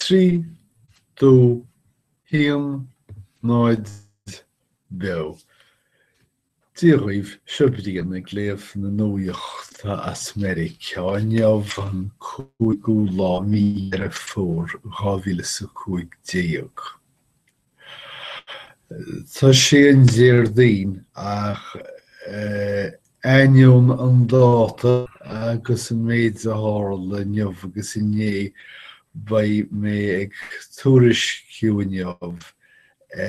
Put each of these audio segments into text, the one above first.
Trí, dó, haon, náid, beo. Dia dhaoibh, seo Brian ag léamh na nuachta as Meiriceá inniu an cúigiú lá mí Dheireadh Fómhair dhá mhíle is a cúig déag. Tá sé an Déardaoin ach ainneoin an dáta agus an méid a tharla inniu agus inné beidh mé ag tuairisciú inniu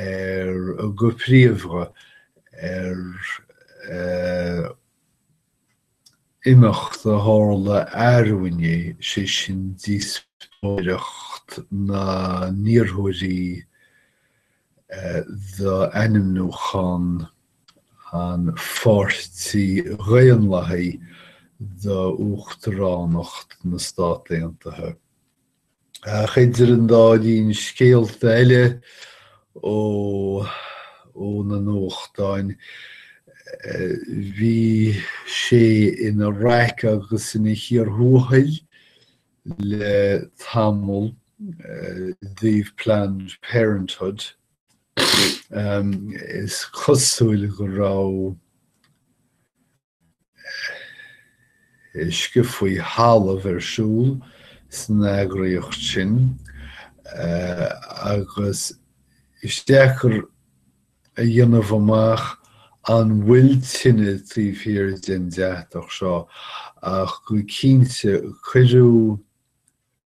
ar go príomha ar imeacht a tharla arú inné, sé sin díospóireacht na n-iarrthóirí d'ainmniúchán an Pháirtí Dhaonlathaigh d'Uachtaránacht na Stát Aontaithe. Ach idir an dá linn scéalta eile ó na nuachtáin, bhí sé ina raic agus ina chíor thuathail le tamall i dtaobh Planned Parenthood. Is cosúil go raibh uisce faoi thalamh ar siúl san eagraíocht sin agus is deacair a dhéanamh amach an bhfuil tine taobh thiar den deatach seo ach go cinnte cuireadh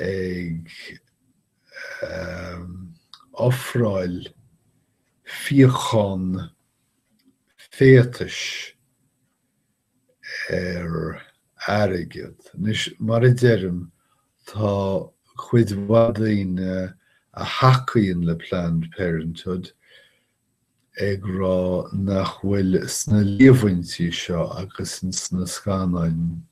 ag ofráil fíochán féatais ar airgead. Anois, mar a deirim, tá cuid mhaith daoine a thacaíonn le Planned Parenthood ag rá nach bhfuil sna líomhaintí seo agus sna scannáin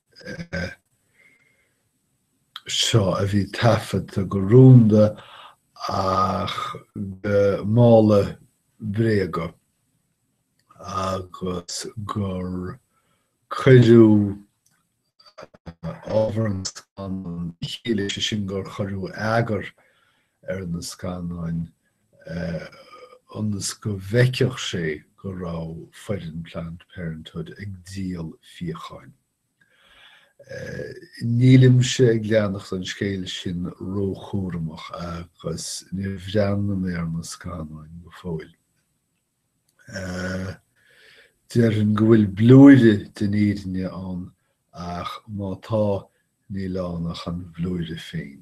seo a bhí taifeadta go rúnda ach go mála bréaga agus gur cuireadh ábhar an scannáin le chéile, sé sin gur cuireadh eagar ar na scannáin ionas go bhfeicfeadh sé go raibh foireann Planned Parenthood ag díol fíocháin. Nílimse ag leanacht an scéal sin róchúramach agus ní bhreathna mé ar na scannáin go fóill. Déarfainn go bhfuil blúire den fhírinne ann ach má tá, níl ann ach an blúire féin.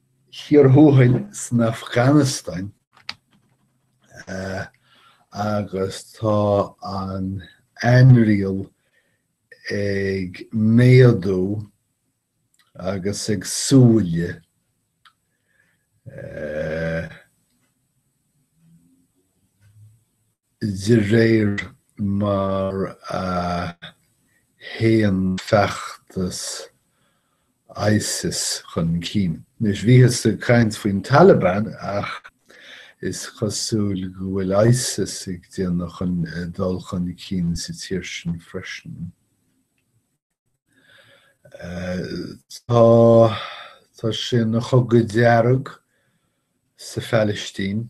Cíor thuathail san Afganastáin agus tá an ainriail ag méadú agus ag siúl. de réir mar a théann feachtas Isis chun cinn. Anois, bhíothas ag caint faoin Taliban ach is cosúil go bhfuil Isis ag déanamh dul chun cinn sa tír sin freisin. Tá sé ina chogadh dearg sa Phalaistín.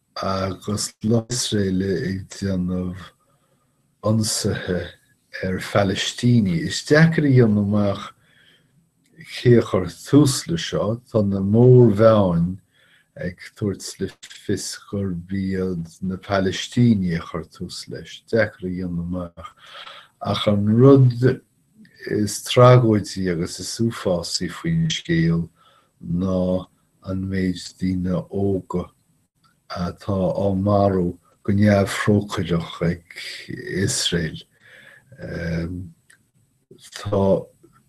agus Iosrael ag déanamh ionsaithe ar Phalaistínigh. Is deacair a dhéanamh amach cé a chuir tús le seo, tá na mórmheáin ag tabhairt le fios gurb iad na Palaistínigh a chuir tús leis, deacair a dhéanamh amach, ach an rud is tragóidí agus is uafásaí faoin scéal ná an méid daoine óga atá á marú go neamhthrócaireach ag Iosrael. Tá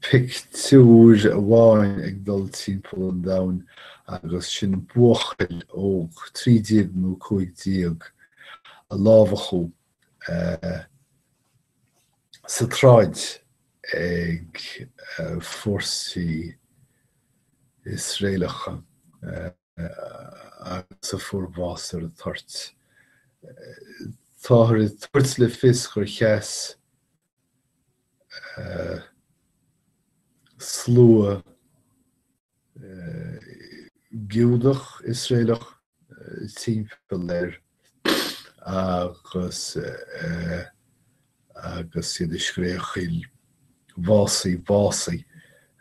pictiúir amháin ag dul timpeall an domhain agus sin buachaill óg, 13 nó 15, a lámhachadh sa tsráid ag fórsaí Iosraelacha agus a fuair bás ar an toirt. Táthar ag tabhairt le fios gur sheas slua Giúdach Iosraelach timpeall air agus agus iad ag scréachaíl básaigh, básaigh,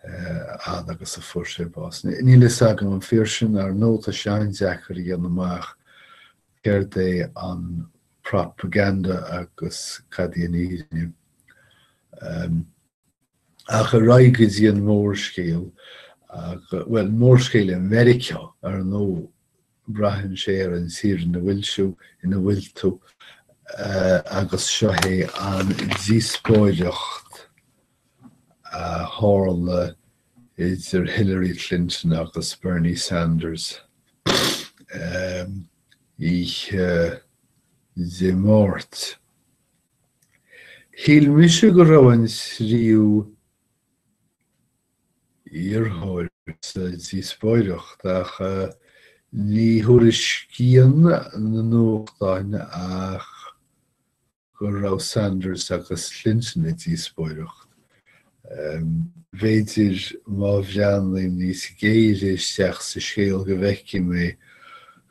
a fhad agus a fuair sé bás. Níl a fhios agam an fíor sin, ar ndóigh tá sé an-deacair a dhéanamh amach céard é an propaganda agus cad í an fhírinne. ach ar aghaidh go dtí an mórscéal, bhuel, mórscéal i Meiriceá, ar ndóigh, braitheann sé ar an tír ina bhfuil tú, ina bhfuil tú, agus seo é an díospóireacht a tharla idir Hillary Clinton agus Bernie Sanders oíche Dé Máirt. Shíl mise go raibh an tríú iarrthóir sa díospóireacht ach ní thuairiscíonn na nuachtáin ach go raibh Sanders agus Clinton i díospóireacht. B'fhéidir má bhreathnaím níos géire isteach sa scéal go bhfeicfidh mé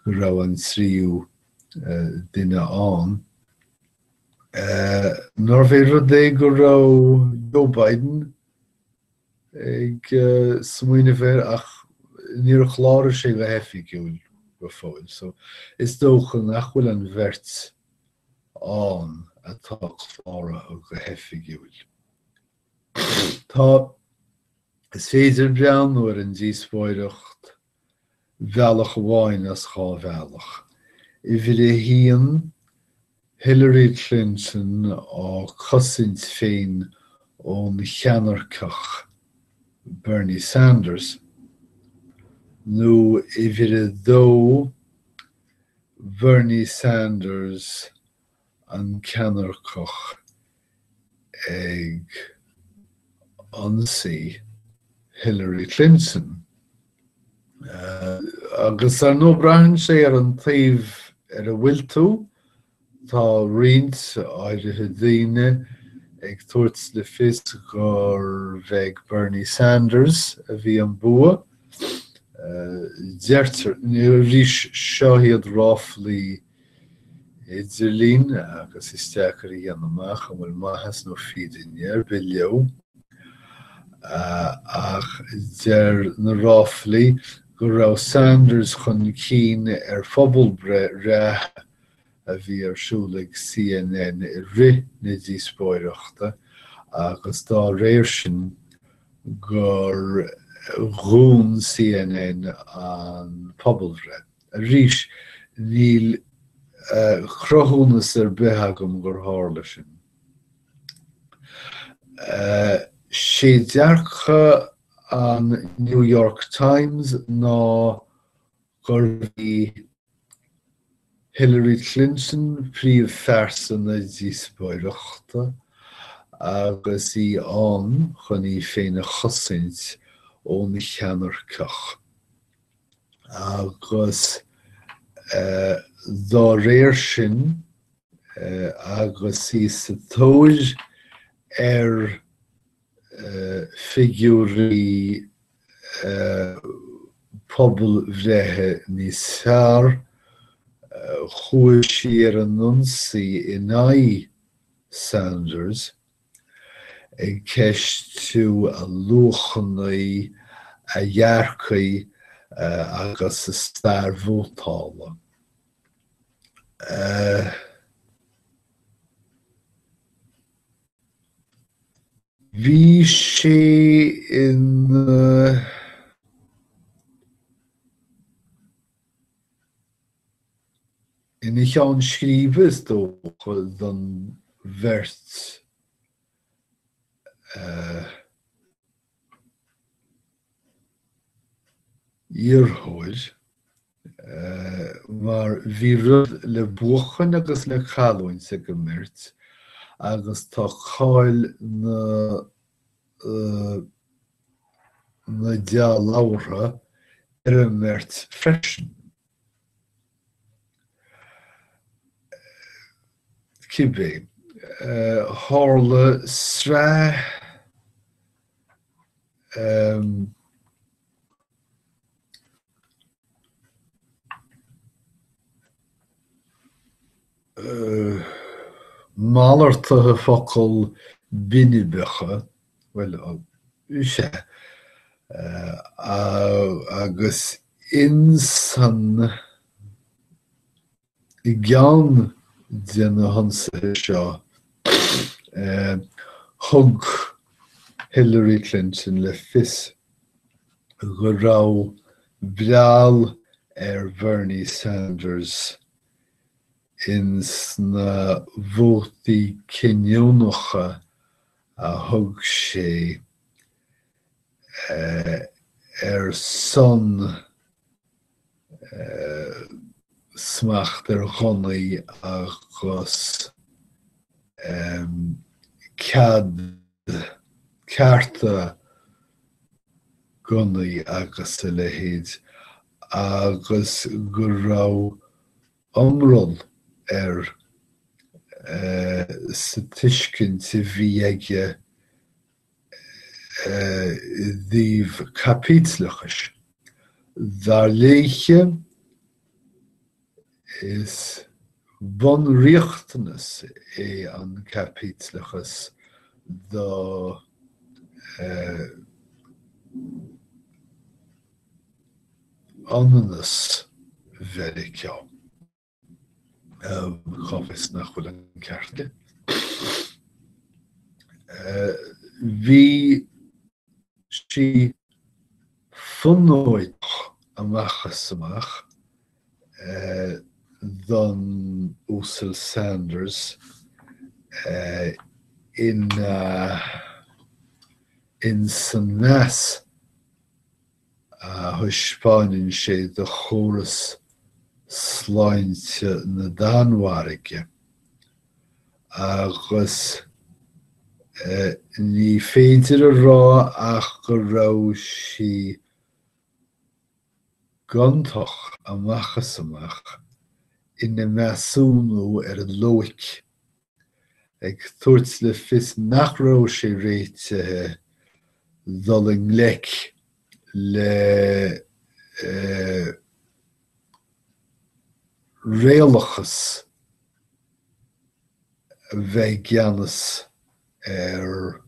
go raibh an tríú duine ann. Nárbh é rud é go raibh Joe Biden ag smaoineamh air ach níor chláraigh sé go hoifigiúil go fóill so is dócha nach bhfuil an bheirt ann atá cláraithe go hoifigiúil. Tá, is féidir breathnú ar an díospóireacht bhealach amháin as dhá bhealach. Uimhir a haon, Hillary Clinton á cosaint féin ón cheannairceach Bernie Sanders, nó uimhir a dó, Bernie Sanders an ceannairceach ag ionsaí Hillary Clinton agus ar ndóigh braitheann sé ar an taobh ar a bhfuil tú, tá roinnt áirithe daoine ag tabhairt le fios gurbh ag Bernie Sanders a bhí an bua, deirtear, arís seo iad ráflaí, idirlín agus is deacair a dhéanamh amach an bhfuil maitheas nó fírinne ar bith leo, ach deir na ráflaí go raibh Sanders chun cinn ar phobalbhreith reatha a bhí ar siúl ag CNN i rith na díospóireachta agus dá réir sin gur dhún CNN an phobalbhreith. Arís, níl cruthúnas ar bith agam gur tharla sin. Sé dearcadh an New York Times ná gurbh í Hillary Clinton príomhphearsa na díospóireachta agus í in ann chun í féin a chosaint ón cheannairceach. agus dá réir sin, agus í sa tóir ar figiúirí pobalbhreithe níos fearr, chuaigh sí ar an ionsaí in aghaidh Sanders. ag ceistiú a luachannaí, a dhearcthaí agus a stair vótála. Bhí sé ina. Ina cheann scríbe is dócha don bheirt iarrthóir mar bhí rud le buachan agus le cailliúint ag an mbeirt agus tá cáil na na dea-labhartha ar an mbeirt freisin. Cibé, tharla sraith Malartuithe focal binibeacha, bhuel, sé, agus insan. I gceann de na hionsaithe seo, thug Hillary Clinton le fios go raibh breall ar Bhernie Sanders ins na vótaí cinniúnacha a thug sé ar son smacht ar ghunnaí agus cead, cearta gunnaí agus a leithéid agus go raibh iomrall air sa tuiscint a bhí aige dtaobh caipitleachais, dar léithe, is bunriachtanas é an caipitleachas do ionannas Mheiriceá. Cá bhfios nach bhfuil an ceart aici? Bhí sí fonóideach amach is amach don Uasal Sanders in san mheas thaispeáineann sé do chóras sláinte na Danmhairge agus ní féidir a rá ach go raibh sí gontach amach is amach ina measúnú ar an loighic. ag tabhairt le fios nach raibh sé réitithe dul i ngleic le réalachas a bheith i gceannas ar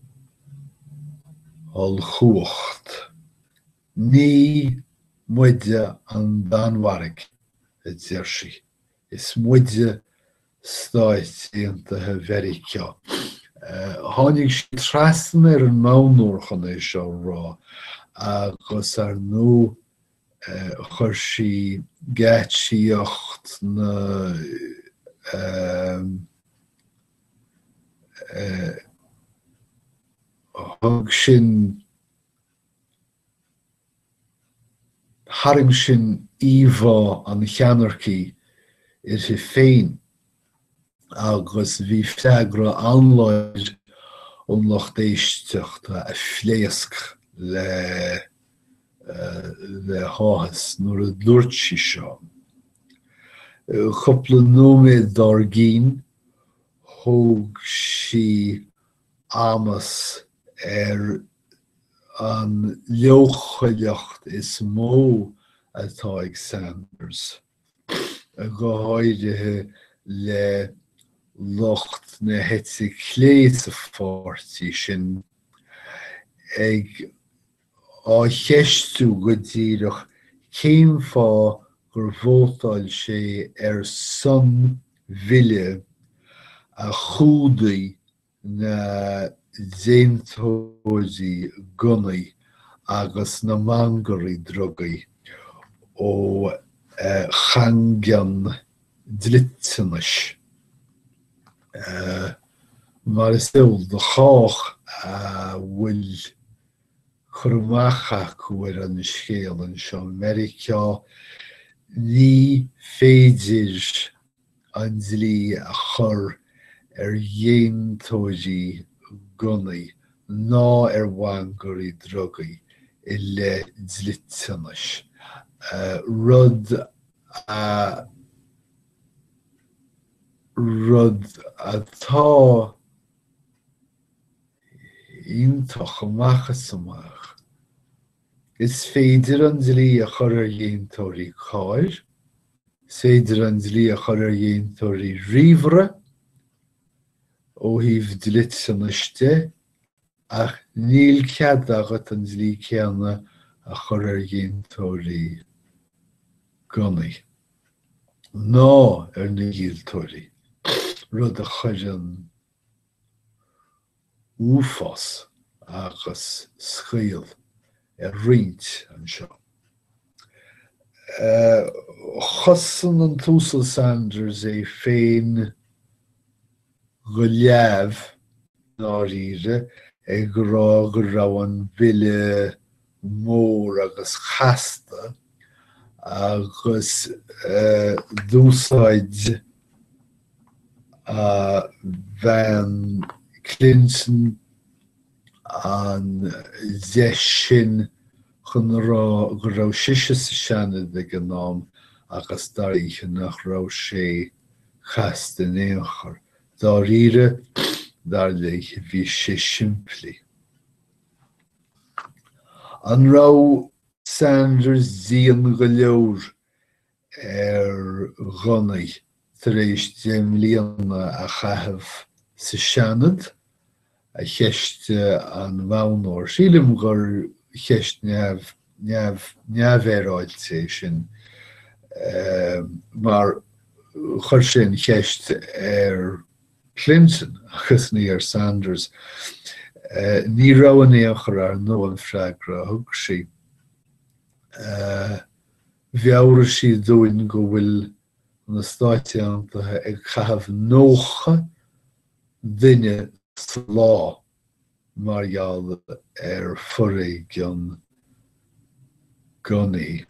ollchumhacht. Ní muide an Danmhairg, a deir sí, is muide Stáit Aontaithe Mheiriceá. Tháinig sí trasna ar an Modhnóir chun é seo a rá agus ar ndóigh chuir sí geáitsíocht na Thug sin Tharraing sin íomhá an cheannaircigh uirthi féin agus bhí freagra an-láidir ón lucht éisteachta a phléasc le le háthas nuair a dúirt sí seo. Cúpla nóiméad dár gcionn, thug sí amas ar an leochaileacht is mó atá ag Sanders, go háirithe le lucht na heite clé sa pháirtí sin, ag á cheistiú go díreach cén fáth gur vótáil sé ar son bille a chumhdaigh na déantóirí gunnaí agus na mangairí drugaí ó chaingean dliteanais, mar is eol do chách a bhfuil cur amach acu ar an scéal anseo i Meiriceá, ní féidir an dlí a chur ar dhéantóirí gunnaí ná ar mhangairí drugaí i leith dliteanais, rud a rud atá iontach amach is amach. Is féidir an dlí a chur ar dhéantóirí cairr, is féidir an dlí a chur ar dhéantóirí ríomhaire, ó thaobh dliteanais de, ach níl cead agat an dlí céanna a chur ar dhéantóirí gunnaí, ná ar na díoltóirí, rud a chuireann uafás agus scaoll ar roinnt anseo. Chosain an tUasal Sanders é féin go leamh, dáiríre, ag rá go raibh an bille mór agus casta agus d'úsáid Bean Clinton an deis sin chun a rá go raibh sise sa Seanad ag an am agus dar léithe nach raibh sé casta in aon chor. Dáiríre, dar léithe, bhí sé simplí. An raibh Sanders dian go leor ar ghunnaí tar éis deich mbliana a chaitheamh sa Seanad? a cheistigh an Modhnóir. Sílim gur cheist neamhfhéaráilte é sin mar chuir sé an cheist ar Clinton agus ní ar Sanders. Ní raibh in aon chor, ar ndóigh, an freagra a thug sí. Mheabhraigh sí dúinn go bhfuil na Stáit Aontaithe ag caitheamh 90 duine sa lá mar gheall ar foréigean gunnaí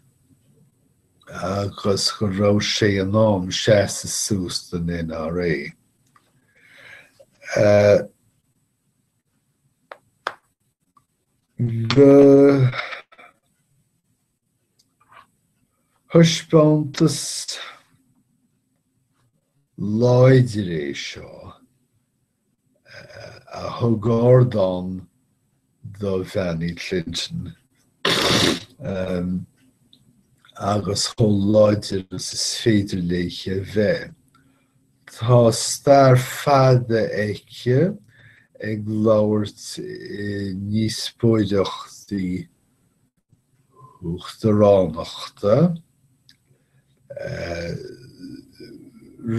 agus go raibh sé in am seasamh suas don NRA. Ba thaispeántas láidir é seo a thug ardán do Bhean Uí Clinton agus chomh láidir is is féidir léi a bheith. Tá stair fada aici ag labhairt i ndíospóireachtaí Uachtaránachta,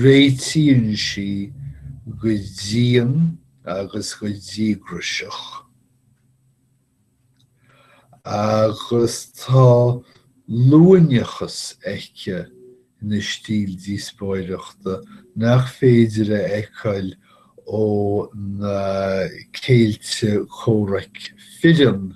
réitíonn sí go dian agus go díograiseach, agus tá luaineachas aici ina stíl díospóireachta nach féidir a fheiceáil ó na céilí comhraic fireann,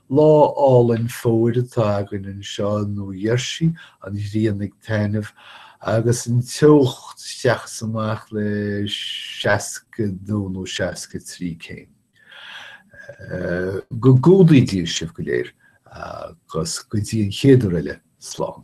Lá álainn fómhair atá againn anseo i Nua Gheirsí, an ghrian ag taitneamh agus an teocht isteach is amach le 62 nó 63 céim. Go gcumhdaí Dia sibh go léir agus go dtí an chéad uair eile, slán.